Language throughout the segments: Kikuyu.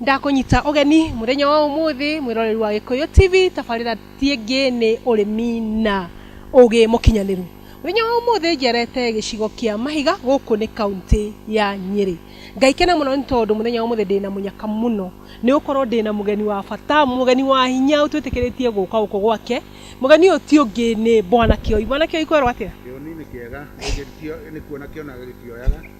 ndakunyita ũgeni mũthenya wa ũmũthĩ mwĩroreri wa gĩkũyũ tv tabarĩra tiĩngĩ nĩ ũrĩmi na ũgĩ mũkinyanĩru mũthenya wa ũmũthĩ njerete gĩcigo kĩa mahiga gũkũ nĩ kaunti ya nyĩrĩ ngaikena mũno nĩ tondũ mũthenya wa ũmũthĩ ndĩna mũnyaka mũno nĩ gũkorwo ndĩna mũgeni wa bata mũgeni wa hinya ũtwĩtĩkĩrĩtie gũka gũkũ gwake mũgeni ũyũ ti ũngĩ nĩ bwana kĩoi bwana kĩoi kwerwo atĩa Kĩoni nĩ kĩega, gĩgĩtio nĩ kuona kĩonaga gĩkioyaga.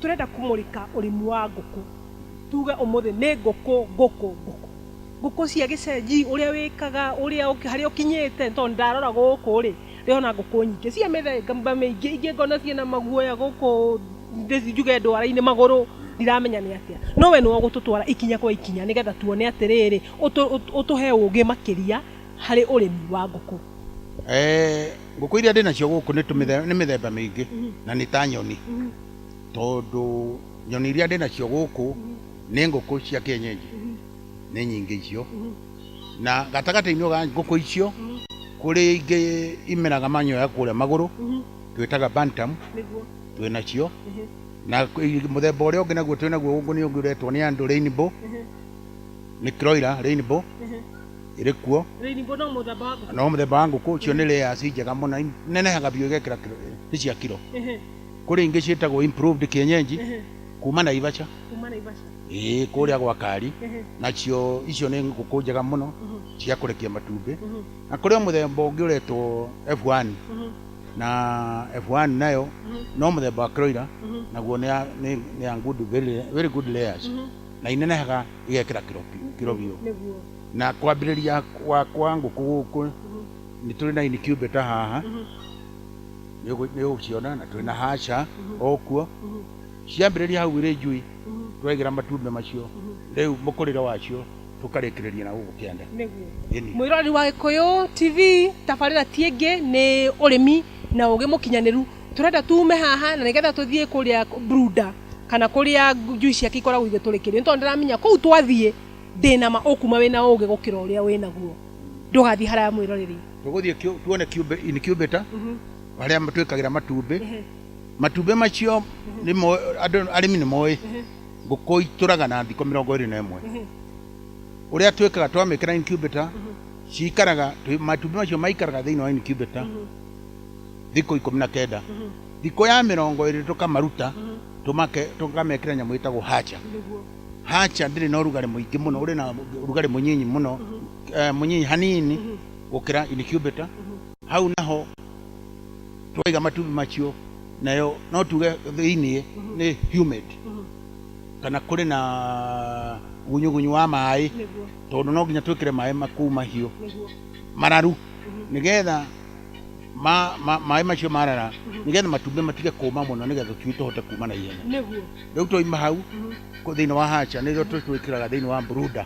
Tũrenda kũmũrĩka ũrĩmi wa ngũkũ, tuge ũmũthĩ nĩ ngũkũ, ngũkũ, ngũkũ. Ngũkũ cia gĩcenji, ũrĩa wĩkaga, ũrĩa ũkĩ, harĩa ũkinyĩte, nĩ tondũ nĩ ndarora gũkũ rĩ, ndĩrona ngũkũ nyingĩ cia mĩthemba mĩingĩ, ingĩ ngona ciĩna maguoya gũkũ thĩ njuge ndwara-inĩ magũrũ, ndiramenya nĩ atĩa. No we nĩwe ũgũtũtwara ikinya kwa ikinya nĩgetha tuone atĩrĩrĩ, ũtũ, ũtũ, ũtũhe ũgĩ makĩria harĩ ũrĩmi wa ngũkũ. Ngũkũ iria ndĩ nacio gũkũ nĩ tũmĩthe- nĩ mĩthemba mĩingĩ na nĩ ta nyoni, tondũ nyoni iria ndĩ nacio gũkũ nĩ ngũkũ cia kĩenyenji, nĩ nyingĩ icio. Na gatagatĩ-inĩ ga ngũkũ icio, kũrĩ ingĩ imeraga manyoya kũrĩa magũrũ, twĩtaga bantam, Nĩguo. twĩ nacio. Ehe. Na kwĩ- mũthemba ũrĩa ũngĩ naguo twĩ naguo gũkũ nĩ ũngĩ ũretwo nĩ andũ rainbow, nĩ kroiler rainbow. Ehe. ĩrĩ kuo Rainbow no mũthemba wa ngũkũ. no mũthemba wa ngũkũ icio nĩ layers njega mũno inenehaga biũ igekĩra kiro nĩ cia kiro Ehe, kũrĩ ingĩ ciĩtagwo improved kienyenji ehe, kuma Naivasha kuma Naivasha. ĩĩ kũrĩa gwa Kari Ehe, nacio icio nĩ ngũkũ njega mũno mhm, cia kũrekia matumbĩ mhm, na kũrĩ o mũthemba ũngĩ ũretwo F1 mhm, na F1 nayo mhm, no mũthemba wa kĩroira mhm, naguo nĩ ya- nĩ- nĩ ya good, very, very good layers mhm. na inenehaga igekĩra kĩro biũ- kĩro biũ nĩguo na kwambĩrĩria gwakwa ngũkũ gũkũ nĩ tũrĩ na incubator haha nĩ ũgũ- nĩ ũgũciona na twĩ na haca o kuo ciambĩrĩria hau irĩ njui twegĩra matumbĩ macio rĩu mũkũrĩre wacio tũkarĩkĩrĩria na gũkũ kĩanda nĩguo Ĩni. mwĩroreri wa gĩkũyũ tv tabarĩra ti ĩngĩ nĩ ũrĩmi na ũgĩ mũkinyanĩru Tũrenda tuume haha na nĩgetha tũthiĩ kũrĩa Bruda kana kũrĩa njui ciake ikoragwo igĩtũrĩkĩrio nĩ tondũ ndĩramenya kũu twathiĩ ndĩna ma ũkuma wĩna ũũgĩ gũkĩra ũrĩa wĩnaguo ndũgathiĩ haraya mwĩroreri tũgũthiĩ kĩũ- tuone kiumbe incubator harĩa twĩkagĩra matumbĩ matumbĩ macio nĩ mo- andũ arĩmi nĩ moĩ ngũkũ itũraga na thikũ mĩrongo ĩrĩ na ĩmwe ũrĩa twĩkaga twamĩkĩra incubator cikaraga twĩ- matumbĩ macio maikaraga thĩinĩ wa incubator thikũ ikũmi na kenda thikũ ya mĩrongo ĩrĩ tũkamaruta tũmake tũkamekĩra nyamũ ĩtagwo hacha nĩguo hacha ndĩrĩ na ũrugarĩ mũingĩ mũno ũrĩ na ũrugarĩ mũnyinyi mũno eh, mũnyinyi hanini gũkĩra incubator hau naho twaiga matumbĩ macio nayo no tuge thĩinĩ nĩ humid kana kũrĩ na gunyugunyu wa maĩ nĩguo tondũ no nginya twĩkĩre maĩ makuu mahiũ nĩguo mararu nĩgetha ma- ma- maĩ macio marara nĩgetha matumbĩ matige kũma mũno nĩgetha tũcui tũhote kuma na ihenya nĩguo rĩu twaima hau kũ- thĩinĩ wa hacha nĩrĩo tũ- twĩkĩraga thĩinĩ wa mburuda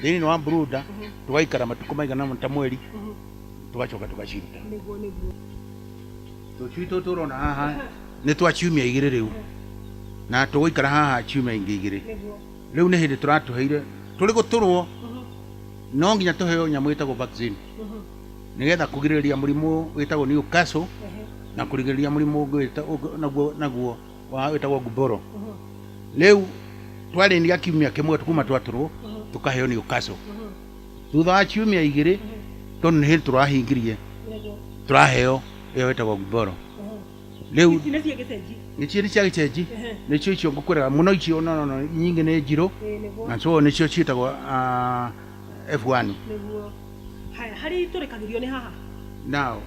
thĩinĩ wa mburuda tũgaikara matukũ maigana ũna ta mweri tũgacoka tũgaciruta nĩguo nĩguo tũcui tũtũ ũrona haha nĩ twa ciumia igĩrĩ rĩu na tũgũikara haha ciumia ingĩ igĩrĩ nĩguo rĩu nĩ hĩndĩ tũratũheire tũrĩ gũtũrwo no nginya tũheo nyamũ ĩtagwo vaccine nĩgetha kũgirĩrĩria mũrimũ wĩtagwo Newcastle na kũrigĩrĩria mũrimũ ũngĩ wĩta- ũngĩ- naguo naguo wa- wĩtagwo Gumboro. Rĩu twarĩnia kiumia kĩmwe kuma twatũrwo tũkaheo Newcastle. Thutha wa ciumia igĩrĩ tondũ nĩ hĩndĩ tũrahingirie tũraheo ĩyo wĩtagwo Gumboro. Rĩu ici nĩ cia gĩcenji nĩcio nĩ cia gĩcenji Ehe. nĩcio icio ngũkwĩraga mũno icio no no no nyingĩ nĩ njirũ Ĩĩ, nĩguo. na so nĩcio ciĩtagwo ah, F1. nĩguo haya harĩa itũrĩkagĩrio nĩ haha Now,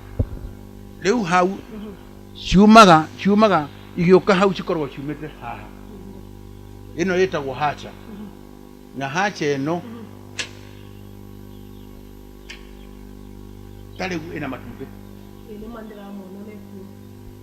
rĩu hau Mhm. ciumaga ciumaga igĩũka hau cikoragwo ciumĩte haha ĩno ĩtagwo hacha na hacha ĩno tarĩu ĩna matumbĩ Ĩĩ, nĩ ma nĩndĩramona mekuo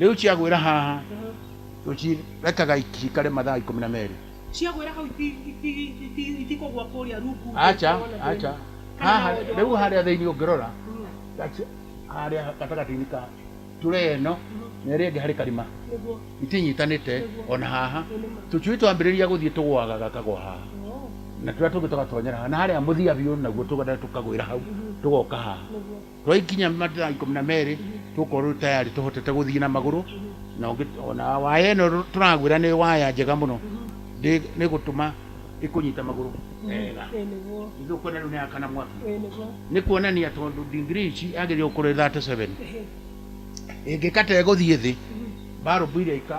Rĩu ciagwĩra haha tũcirekaga cikare mathaa ikũmi na merĩ. Ciagwĩra hau iti- iti- iti- itikũgwa kũrĩa rungu thĩ Acha, ikorwo na thĩna. acha. Kana Haha, na wonjwa rĩu wa- harĩa thĩinĩ ũngĩrora, Mm, that's harĩa gatagatĩ-inĩ ka tray ĩno na ĩrĩa ĩngĩ harĩ karima nĩguo. itinyitanĩte ona haha tũcui twambĩrĩria gũthiĩ tũgwaga gakagwa haha Oh, na tũrĩa tũngĩ tũgatonyera haha na harĩa mũthia biũ naguo tũgenda tũkagwĩra hau tũgoka haha nĩguo. Twaikinya mathaa ikũmi na merĩ tũkorwo rĩu tayari tũhotete gũthiĩ na magũrũ na ũngĩ- ona waya ĩno rũ- tũragwĩra nĩ waya njega mũno Ndĩ- nĩ gũtũma ĩkũnyita magũrũ wega ithuĩ ũkwona rĩu nĩ yakana mwaki nĩ kuonania tondũ ndigiri ici yagĩrĩirwo kũrĩ 37 ĩngĩkata ĩgũthiĩ thĩ mbarũmbu iria ika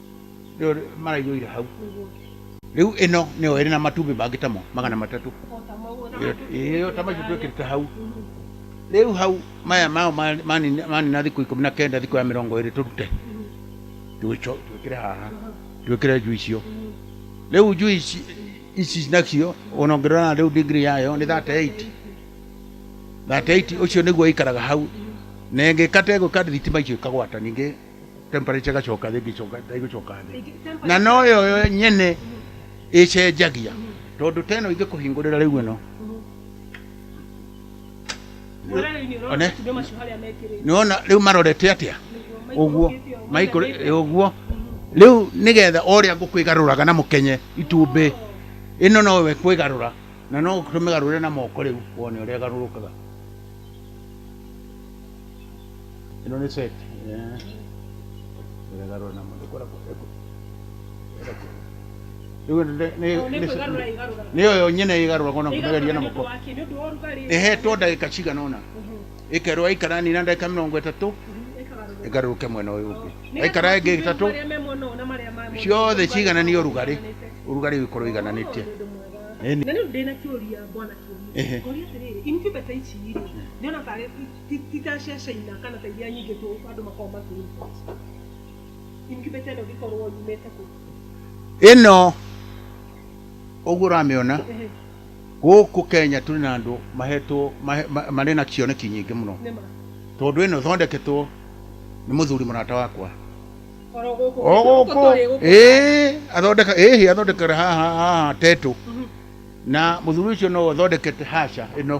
Rĩo maraiyũire hau rĩu ĩno nĩyo ĩrĩ na matumbĩ mangĩ tamo magana matatũ ĩyo ta macio twĩkĩrĩte hau rĩu hau maya mao mani- manina manina thikũ ikũmi na kenda thikũ ya mĩrongo ĩrĩ tũrute twĩco- twĩkĩre haha twĩkĩre njui icio rĩu njui ici- ici nacio ona ũngĩrora rĩu ndigiri yayo nĩ 38 38 ũcio nĩguo ĩikaraga hau na ĩngĩkata ĩgwĩka thitima icio ikagwata ningĩ temperature ĩgacoka thĩ ĩgĩcoka thĩ ĩgĩcoka thĩ Ĩngĩ- temper- na no yo yo nyene ĩcenjagia tondũ ta ĩno ingĩkũhingũrĩra rĩu ĩno Ũrarĩ-inĩ ũrona One. matumbĩ macio harĩa mekĩrĩte. nĩwona rĩu marorete atĩa Nĩguo ũguo maikũrũkĩte ũguo, maikũrũ maigĩte. ũguo rĩu nĩgetha ũrĩa ngũkwĩgarũraga na mũkenye itumbĩ ĩno nowe kwĩgarũra na no tũmĩgarũre na moko rĩu wone ũrĩa ĩgarũrũkaga Ĩno nĩ set. Eh. Ĩragarũra na mũndũ kora kora. Rĩu nĩ nĩ nĩ nĩ yo nyene ĩgarũra kona kũmegeria na mũko. Ĩhetwo ndagĩka cigana ũna. Ĩkerwo aikara nini na ndagĩka mĩrongo ĩtatũ ĩgarũrũke mwena ũyũ ũngĩ. Aikara ĩngĩ ĩtatũ ciothe ciigananie ũrugarĩ. Ũrugarĩ ũgĩkorwo ũigananĩtie. Ĩni. Na rĩu ndĩna kĩũria bwana Kĩũria. Ehe. Ngoria atĩrĩrĩ, incubator ici rĩ, ndĩrona tarĩ Ti- ti ta acia China kana ta iria nyingĩ tũ andũ makoragwo makĩ import. Incubator ĩno ĩngĩkorwo yumĩte kũ? Ĩno ũguo ũramĩona Ehe, gũkũ Kenya tũrĩ na andũ mahetwo mahe- ma- marĩ na cioneki nyingĩ mũno nĩ ma. tondũ ĩno ĩthondeketwo nĩ mũthuri mũrata wakwa Oro gũkũ. o Gũkũ gũkũ tũrĩ gũkũ. ĩĩ athondeka ĩhĩ athondekera haha haha tetũ Mhm. na mũthuri ũcio no athondekete haca ĩno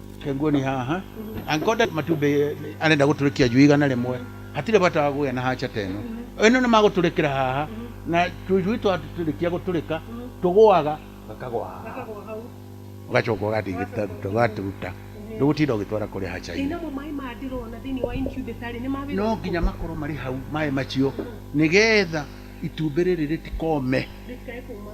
Kenguo nĩ haha ankonda matumbĩ arenda gũtũrĩkia njui igana rĩmwe hatirĩ bata wa gũgĩa na hacha teno ĩno nĩ magũtũrĩkĩra haha na tũjui twatũrĩkia gũtũrĩka tũgũaga gakagwa haha ũgacoka ũgathiĩ gĩtaruta ũgaturuta ndũgũtinda ũgĩtwara kũrĩa hacha inĩ Namo maĩ maya ndĩrona thĩinĩ wa incubator rĩ nĩ ma wĩra no nginya makorwo marĩ hau maĩ macio nĩgetha itumbĩ rĩrĩ rĩtikome rĩtikae kuma.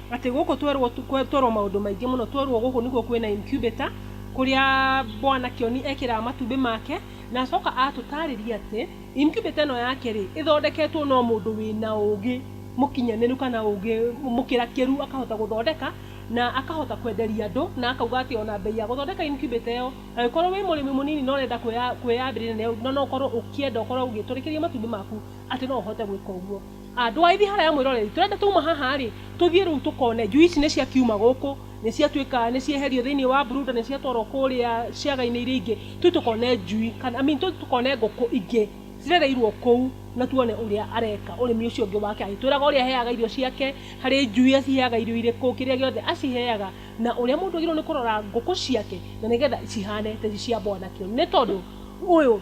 Atĩ gũkũ twerwo twerwo maũndũ maingĩ mũno twerwo gũkũ nĩkuo kwĩna incubator kũrĩa bwana kĩoni ekĩraga matumbĩ make na acoka atũtarĩria atĩ incubator ĩno yake rĩ ĩthondeketwo no mũndũ wĩna ũgĩ mũkinyanĩru kana ũgĩ mũkĩrakĩru akahota gũthondeka na akahota kwenderia andũ na akauga atĩ ona mbei ya gũthondeka incubator ĩyo angĩkorwo wĩ mũrĩmi mũnini na ũrenda kwĩyambĩrĩria na no ũkorwo ũkĩenda ũkorwo ũgĩtũrĩkĩria matumbĩ maku atĩ no ũhote gwĩka ũguo. Andũ a Ithiĩ haraya mwĩroreri, tũrenda twauma haha rĩ, tũthiĩ rĩu tũkone njui ici nĩ cia kiuma gũkũ, nĩ cia tuĩka nĩ cieherio thĩinĩ wa Brooder, nĩ cia twarwo kũrĩa ciaga-inĩ iria ingĩ, tũthiĩ tũkone njui, kana I mean tũthiĩ tũkone ngũkũ ingĩ cirereirwo kũu na tuone ũrĩa areka ũrĩmi ũcio ũngĩ wake, agĩtwĩraga ũrĩa aheaga irio ciake, harĩ njui aciheaga irio irĩkũ, kĩrĩa gĩothe aciheaga, na ũrĩa mũndũ agĩrĩirwo nĩ kũrora ngũkũ ciake na nĩgetha cihane ta ici cia bwana Kĩũnũ, nĩ tondũ ũyũ...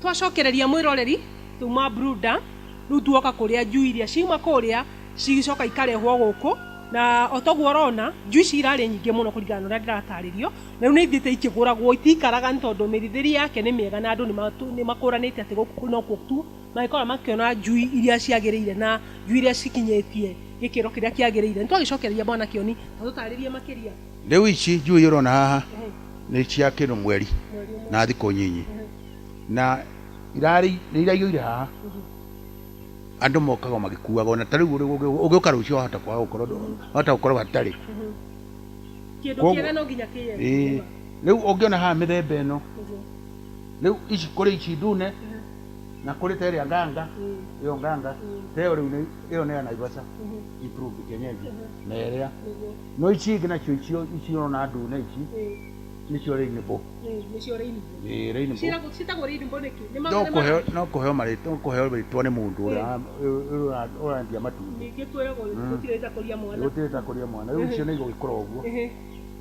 twacokereria mwiroreri tuma bruda riu tuoka kuria njui iria ciuma kuria cigicoka ikarehwo guku na otoguo urona njui ici irarĩ nyingĩ mũno kũringana na ũrĩa ndĩratarĩrio na rĩu nĩ ithiĩte ikĩgũragwo itikaraga nĩ tondũ mĩrithĩrie yake nĩ mĩega na andũ nĩ makũranĩte atĩ gũkũ nokuo tu mangĩkorwo makĩona njui iria ciagĩrĩire na njui iria cikinyĩtie gĩkĩro kĩrĩa kĩagĩrĩire. Nĩ twagĩcokereria Bwana Kĩoni atũtarĩrie makĩria. Rĩu ici njui iria ũrona haha nĩ cia kĩndũ mweri na thikũ nyinyi. Na irarĩ, nĩ iraiywo irĩ haha. Andũ mokaga o magĩkuaga. Ona ta rĩu ũngĩũka rũciũ wahota kwaga gũkorwo, wahota gũkorwo hatarĩ. Kĩndũ Kwoguo- kĩega no nginya Ĩĩ. kĩyendie. Rĩu ũngĩona haha mĩthemba ĩno, rĩu ici kũrĩ ici ndune, na kuri ta ĩrĩa nganga ĩyo nganga ta ĩyo rĩu nĩ- ĩyo nĩ ya naivasha ituruki kenyeji na ĩrĩa no ici ingĩ nacio icio icio ũrona ndune ici nĩcio rĩinibũ nĩcio rĩinibũ Ĩĩ, rĩinibũ Ciĩragwo- ciĩtagwo rĩinibũ nĩkĩ Nĩ ma- no nĩ ma- kũheo- no kũheo marĩtwa no kũheo rĩtwa nĩ mũndũ ũrĩa Ĩĩ. ũrĩa- ũrĩa- ũrendia matumbĩ ningĩ kwĩragwo gũtirĩ ta kũria mwana gũtirĩ ta kũrĩa mwana rĩu icio nĩ igũgĩkora ũguo Ehe,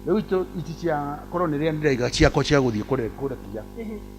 rĩu icio ici cia korwo nĩ rĩa ndiraiga ciakwa cia gũthiĩ kũre- kũrekia ehe.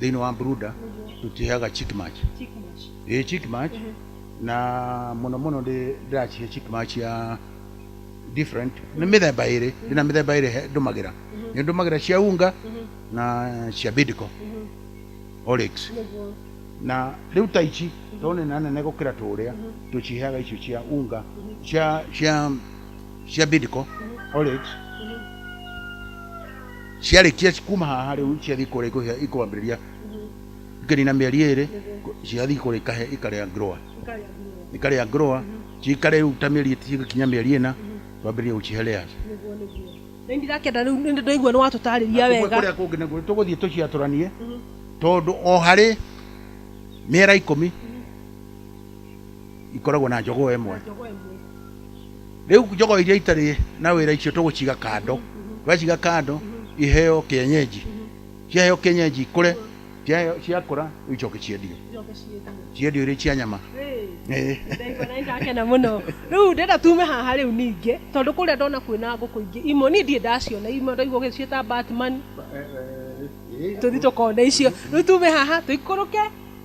thĩinĩ wa bruda tũtiheaga chick match Chick mash. ĩ chick match na mũno mũno ndĩ- ndĩracihe chick match ya different nĩ mĩthemba ĩrĩ ndĩna mĩthemba ĩrĩ he- ndũmagĩra nĩ ndũmagĩra cia unga na cia bidco olix Nĩguo. na rĩu ta ici tondũ nĩ na nene gũkĩra tũrĩa tũciheaga icio cia unga cia cia cia bid ko orit ciarĩkia kuma haha rĩu ciathiĩ kũrĩa ikũhĩa- ikwambĩrĩria ikanina mĩeri ĩrĩ ciathiĩ kũrĩa ikahe ikarĩa grower ikarĩa grower cikare rĩu ta mĩeri cigĩkinya mĩeri ĩna twambĩrĩrie gũcihe layers nĩ ndirakenda rĩu nĩ ndaigua nĩ watũtarĩria Kumbe wega kũrĩa kũngĩ naguo tũgũthiĩ tũciatũranie tondũ o harĩ mĩera ikũmi ikoragwo na njogoo ĩmwe rĩu njogoo iria itarĩ na wĩra icio tũgũciga kando twaciga kando iheo kĩenyenji ciaheo kĩenyenji ikũre ciaheo- ciakũra rĩu icoke ciendio ciendio irĩ cia nyama Eh. ndakena mũno rĩu ndĩrenda tume haha rĩu ningĩ tondũ kũrĩa ndona kwĩna ngũkũ ingĩ imwe niĩ ndirĩ ndaciona imwe ndaigua ũgĩciĩta batman tũthi tũkone icio rĩu tume haha tũikũrũke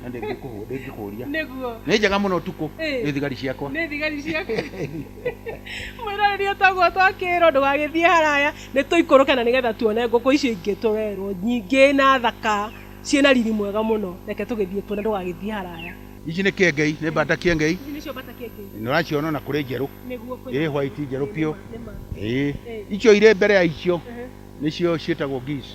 na ndĩngĩkũhũ- ndĩngĩkũria nĩguo nĩ njega mũno ũtukũ Ĩĩ. nĩ thigari ciakwa nĩ thigari ciaku mwĩroreri ũtagwo twakĩrwo ndũgagĩthiĩ haraya nĩ tũikũrũke na nĩgetha tuone ngũkũ icio ingĩ tũrerwo nyingĩ na thaka ciĩna riri mwega mũno reke tũgĩthiĩ kuona ndũgagĩthiĩ haraya ici nĩ kĩengei nĩ mbata kĩengei ici nĩcio mbata kĩengei nĩ ũraciona ona kũrĩ njerũ nĩguo ĩ white njerũ biũ ĩĩ icio irĩ mbere ya icio nĩcio ciĩtagwo geese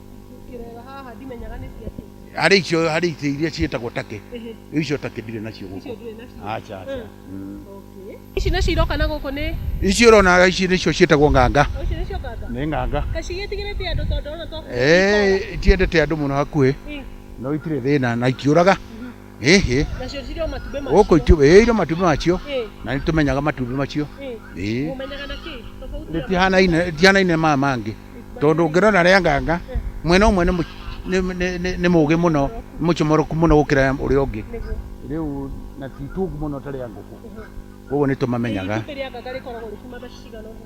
Ingĩreba haha ndimenyaga nĩ cia kĩ. harĩ icio harĩ icio iria ciĩtagwo take Ehe, rĩu icio take ndirĩ nacio icio gũkũ ndũrĩ nacio. aca aca Eh, Mm. okay. Ici nacio iroka na gũkũ nĩ ici ũrona ici nĩcio ciĩtagwo nganga o icio nĩcio nganga. nĩ nganga Kaĩ cigĩtigĩrĩte andũ tondũ ona to Eh, itiendete andũ mũno hakuhĩ Eh, no itirĩ thĩna na ikiũraga ĩhĩ nacio cirĩ o matumbĩ gũkũ macio itumbĩ ĩĩ irĩ matumbĩ macio Ĩĩ, na nĩ tũmenyaga matumbĩ macio ĩĩ. ĩĩ mũmenyaga na kĩ tofauti ya rĩtihanaine rĩtihanaine maya mangĩ tondũ ũngĩrora rĩa nganga mwena ũmwe nĩ mũ- nĩ- nĩ- nĩ- nĩ mũgĩ mũno nĩ mũcomoroku mũno gũkĩra ũrĩa ũngĩ nĩguo rĩu na ti tungu mũno ta rĩa ngũkũ koguo nĩ tũmamenyaga Itumbĩ rĩa nganga rĩkoragwo rĩkima mbeca cigana ũguo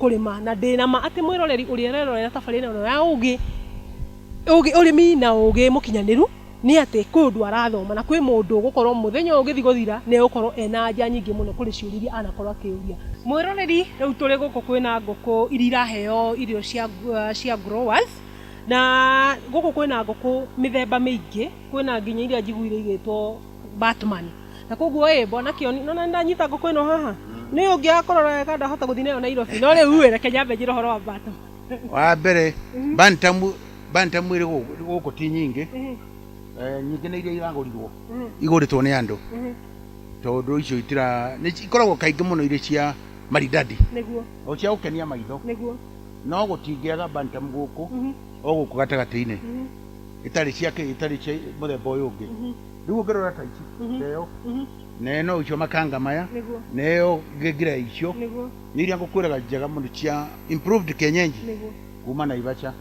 kũrĩ ma na ndĩ na ma atĩ mwĩroreri ũrĩa ũrerorera tabarĩra ĩno ya ũgĩ ũgĩ ũrĩmi na ũgĩ mũkinyanĩru nĩ atĩ kwĩ ũndũ arathoma na kwĩ mũndũ ũgũkorwo mũthenya ũyũ ũgĩthiĩ gũthira nĩ egũkorwo ena anja nyingĩ mũno kũrĩ ciũria iria anakorwo akĩũria. Mwĩroreri rĩu tũrĩ gũkũ kwĩna ngũkũ iria iraheo irio cia uh, cia growers na gũkũ kwĩna ngũkũ mĩthemba mĩingĩ kwĩna nginya iria njiguire igĩtwo Batman. Na koguo ĩ, mbona kĩoni, nona ndanyita ngũkũ ĩno haha. Nĩ ũyũ ũngĩ akũrora wega ndahota gũthiĩ nayo Nairobi. No rĩu ĩ, reke nyambe njĩre ũhoro wa Batman. Wa mbere, Bantam, Bantam ĩrĩ gũkũ gũkũ ti nyingĩ. Eh, nyingĩ nĩ iria iragũrirwo, igũrĩtwo nĩ andũ. Tondũ icio itira, nĩ ci- ikoragwo kaingĩ mũno irĩ cia maridadi, Nĩguo, o cia gũkenia maitho. nĩguo. No gũtingĩaga Bantam gũkũ, o gũkũ gatagatĩ-inĩ. itarĩ cia kĩ itarĩ cia mũthemba ũyũ ũngĩ rĩu ũngĩrora ta ici na ĩyo na ĩno icio makanga maya Nĩguo. na ĩyo ngira icio nĩguo nĩ iria ngũkwĩraga njega mũno cia improved kenyenji nĩguo kuma Naivasha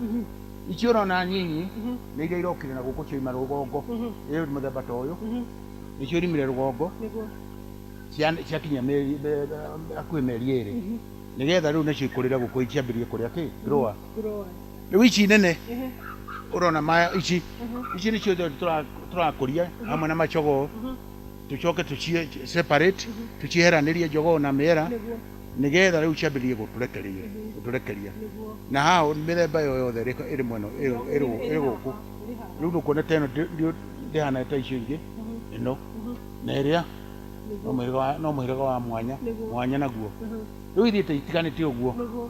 icio ũrona nyinyi nĩ iria irokire na gũkũ cioima rũgongo ĩyo mũthemba ta ũyũ nĩcio irimire rũgongo nĩguo cia- ciakinya mĩeri- me- hakuhĩ mĩeri ĩrĩ nĩgetha rĩu nacio ikũrĩre gũkũ ciambĩrĩrie kũrĩa kĩ grower growers. Rĩu ici nene ũrona maya ici ici nĩcio thorĩ tũra- tũrakũria hamwe na macogoo tũcoke tũcie separate tũcieheranĩrie njogoo na mĩera Nĩguo, nĩgetha rĩu ciambĩrĩrie gũtũrekeria gũtũrekeria nĩguo. na haha ũ- mĩthemba ĩyo yothe ĩrĩ ĩrĩ mwena ĩrĩ- ĩrĩ- ĩrĩ gũkũ Ĩrĩ haha, ĩrĩ haha. rĩu ndũkuona ta ĩno ndĩ- ndĩ- ndĩhana ta icio ingĩ ĩno na ĩrĩa no Nĩguo, mũhĩrĩga wa- no mũhĩrĩga wa mwanya Nĩguo. mwanya naguo Mhm. rĩu ithiĩ ta itiganĩte ũguo nĩguo.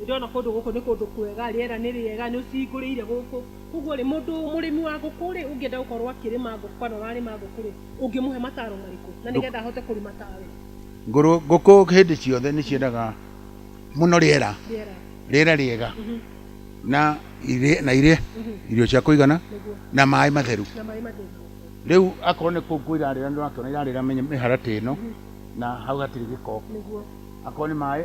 nĩ ndĩrona kũndũ gũkũ nĩ kũndũ kwega, rĩera nĩ rĩega, nĩ ũcihingũrĩire gũkũ. Kwoguo rĩ, mũndũ mũrĩmi wa ngũkũ rĩ, ũngĩenda gũkorwo akĩrĩma ngũkũ kana ũrarĩma ngũkũ rĩ, ũngĩmũhe mataro marĩkũ na nĩ getha ahote kũrĩma tawe? Ngũrũ, ngũkũ hĩndĩ ciothe nĩ ciendaga mũno rĩera, Rĩera, rĩera rĩega mhm, na irĩe, na irĩe mhm, irio cia kũigana nĩguo, na maĩ matheru. na maĩ matheru. Rĩu akorwo nĩ kũu kũ irarĩra nĩ ũrakĩona irarĩra mĩ- mĩharatĩ ĩno na hau hatirĩ gĩko, Nĩguo. akorwo nĩ maĩ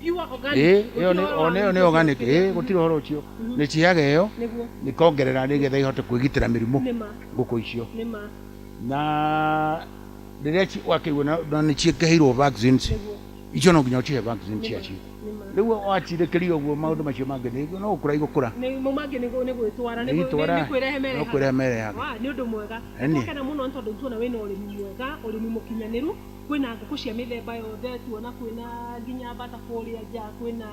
ĩyo nĩ organic ĩĩ gũtirĩ ũhoro ũcio nĩ ciaga ĩyo nĩkongerera nĩgetha ihote kwĩgitĩra mĩrimũ ngũkũ icio na rĩrĩa wakĩigua na nĩ ciĩkĩheirwo vaccines icio no nginya ũcihe vaccine ciacio rĩu wacirekeria ũguo maũndũ macio mangĩ nĩ no gũkũra igũkũra nĩmo mangĩ nĩ gwĩtwara nĩ Itwara, nĩ kwĩrehe no merehaga kwĩrehe merehaga. Wa, nĩ ũndũ mwega Ĩni. nĩ tũgakena mũno nĩ tondũ nĩ tuona wĩna ũrĩmi mwega ũrĩmi mũkinyanĩru Kwĩna ngũkũ cia mĩthemba yothe, tuona kwĩna nginya mbata kũrĩa nja, kwĩna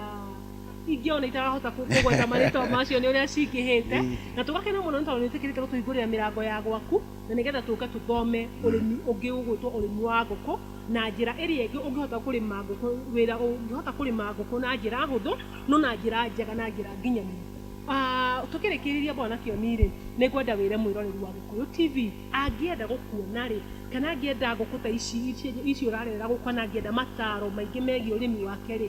ingĩ ona itarahota kũ- kũgweta marĩtwa macio nĩ ũrĩa cingĩhĩte na tũgakena mũno nĩ tondũ nĩ ũtĩkĩrĩte gũtũhingũrĩra mĩrango ya gwaku na nĩgetha tũke tũthome ũrĩmi ũngĩ ũgwĩtwo ũrĩmi wa ngũkũ na njĩra ĩrĩa ĩngĩ ũngĩhota kũrĩma ngũkũ wĩra ũngĩhota kũrĩma ngũkũ na njĩra hũthũ no na njĩra njega na njĩra nginyanĩru. Ah, tũkĩrĩkĩrĩria bwana Kĩoni-rĩ, nĩ ngwenda wĩre mwĩroreri wa Gĩkũyũ TV Angĩenda gũkuona-rĩ, kana angĩenda ngũkũ ta ici ici ũrarerera gũkũ kana angĩenda mataro maingĩ megiĩ ũrĩmi wake-rĩ,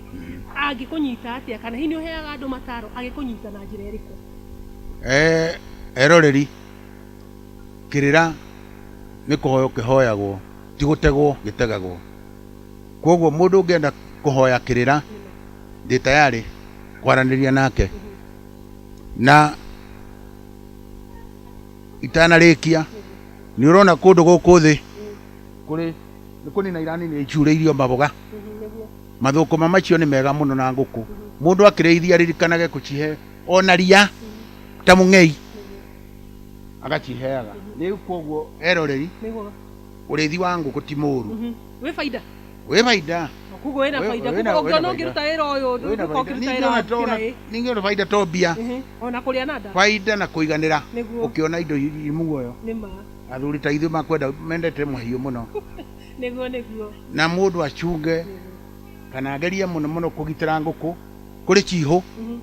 angĩkũnyita atĩa? Kana hihi nĩũheaga andũ mataro agĩkũnyita na njĩra ĩrĩkũ? Eroreri, kĩrĩra nĩ kũhoywo kĩhoyagwo, ti gũtegwo gĩtegagwo. Kuoguo mũndũ ũngĩenda kũhoya kĩrĩra, ndĩ tayarĩ kwaranĩria nake na... itanarĩkia, nĩ ũrona kũndũ gũkũ thĩ kũrĩ nĩ kũnina iranina icurĩirio maboga. Mathũkũma macio nĩ mega mũno na ngũkũ. Mũndũ akĩrĩithia ririkanage gũcihe ona ria ta mũng'ei agaciheaga. Rĩu koguo eroreri, ũrĩithi wa ngũkũ ti mũru. Wĩ baida. wĩ baida kuguo wĩna Wĩ- baida wĩna- kuguo wĩna ũngĩona baida. ũngĩruta wĩra ũyũ Wĩna ndũka baida. ũkĩruta wĩra wa Ningĩona to- kĩraĩ ningĩona baida to mbia Ehe, ona kũrĩa na nda baida na kũiganĩra Nĩguo. ũkĩona indo irĩ muoyo nĩ ma athuri ta ithuĩ makwenda mendete mahiũ mũno nĩguo nĩguo na mũndũ acunge kana agerie mũno mũno kũgitĩra ngũkũ kũrĩ cihũ Mhm,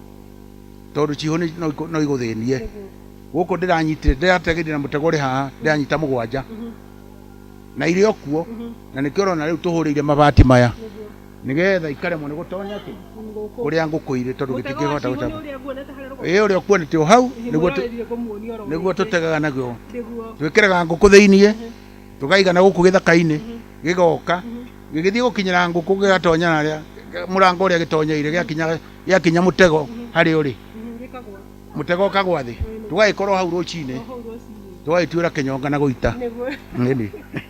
tondũ cihũ nĩ- no ikũ- no igũthĩnie nĩguo gũkũ ndĩranyitire ndĩrategire na mũtego ũrĩ haha ndĩranyita mũgwanja Mhm. na irĩ o kuo na nĩkĩo ũrona rĩu tũhũrĩire mabati maya Nĩguo. nĩgetha ikaremwo nĩ gũtonya kĩ Ngũkũ. kũrĩa ngũkũ irĩ tondũ Mũtego gĩtingĩhota wa cihũ nĩ gũcaba ũrĩa nguonete harĩa rũgongo. ĩĩ ũrĩa ũkuonete o hau Hihi nĩguo tũ- mũrarĩrire kũmuonia oro nĩguo wiki. tũtegaga naguo Nĩguo. twĩkĩraga ngũkũ thĩiniĩ tũkaigana gũkũ gĩthaka-inĩ gĩgoka gĩgĩthiĩ gũkinyĩra ngũkũ gĩgatonya narĩa mũrango ũrĩa gĩtonyeire gĩakinya gĩakinya mũtego harĩa ũrĩ Mhm, gĩkagwa. mũtego ũkagwa thĩ tũgagĩkorwo hau rũcinĩ tũgagĩtuĩra kĩnyonga na gũita Nĩguo. Ĩni.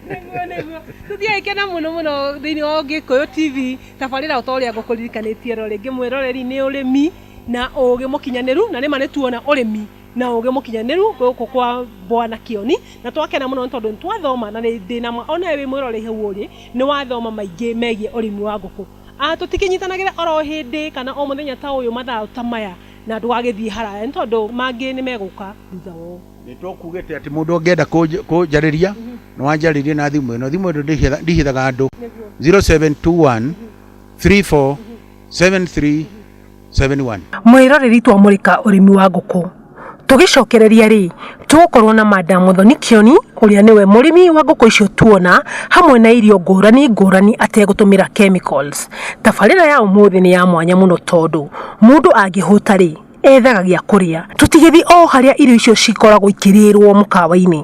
Nĩguo, nĩguo. tũtiagĩkena mũno mũno thĩinĩ wa gĩkũyũ tv tabarĩra o ta ũrĩa ngũkũririkanĩtie ro rĩngĩ mwĩroreri nĩ ũrĩmi na ũũgĩ mũkinyanĩru na nĩma nĩ tuona ũrĩmi na ũũgĩ mũkinyanĩru gũkũ kwa bwana kĩoni na twakena mũno nĩ tondũ nĩ twathoma na nĩ ndĩ na ma ona wĩ mwĩroreri hau ũrĩ nĩ wathoma maingĩ megiĩ ũrĩmi wa ngũkũ Ah, tũtikĩnyitanagĩra oro hĩndĩ kana o mũthenya ta ũyũ mathaa ta maya Na ndũgagĩthiĩ haraya, nĩ tondũ mangĩ nĩ megũka thutha wao. Nĩ tũkugĩte atĩ mũndũ ũngĩenda kũnjarĩria no anjarĩrie na thimũ ĩno. Thimũ ĩno ndĩhithaga andũ, 0721347371. Mwĩroreri twamũrĩka ũrĩmi wa ngũkũ tũgĩcokereria rĩ, Tũgũkorwo na Madam Mũthoni Kĩoni ũrĩa nĩwe mũrĩmi wa ngũkũ icio tuona hamwe na irio ngũrani ngũrani ategũtũmĩra chemicals. Tabarĩra ya ũmũthĩ nĩ ya mwanya mũno tondũ mũndũ angĩhũta rĩ, ethaga gĩa kũrĩa. Tũtigĩthiĩ o harĩa irio icio cikoragwo ikĩrĩrwo mũkawa-inĩ.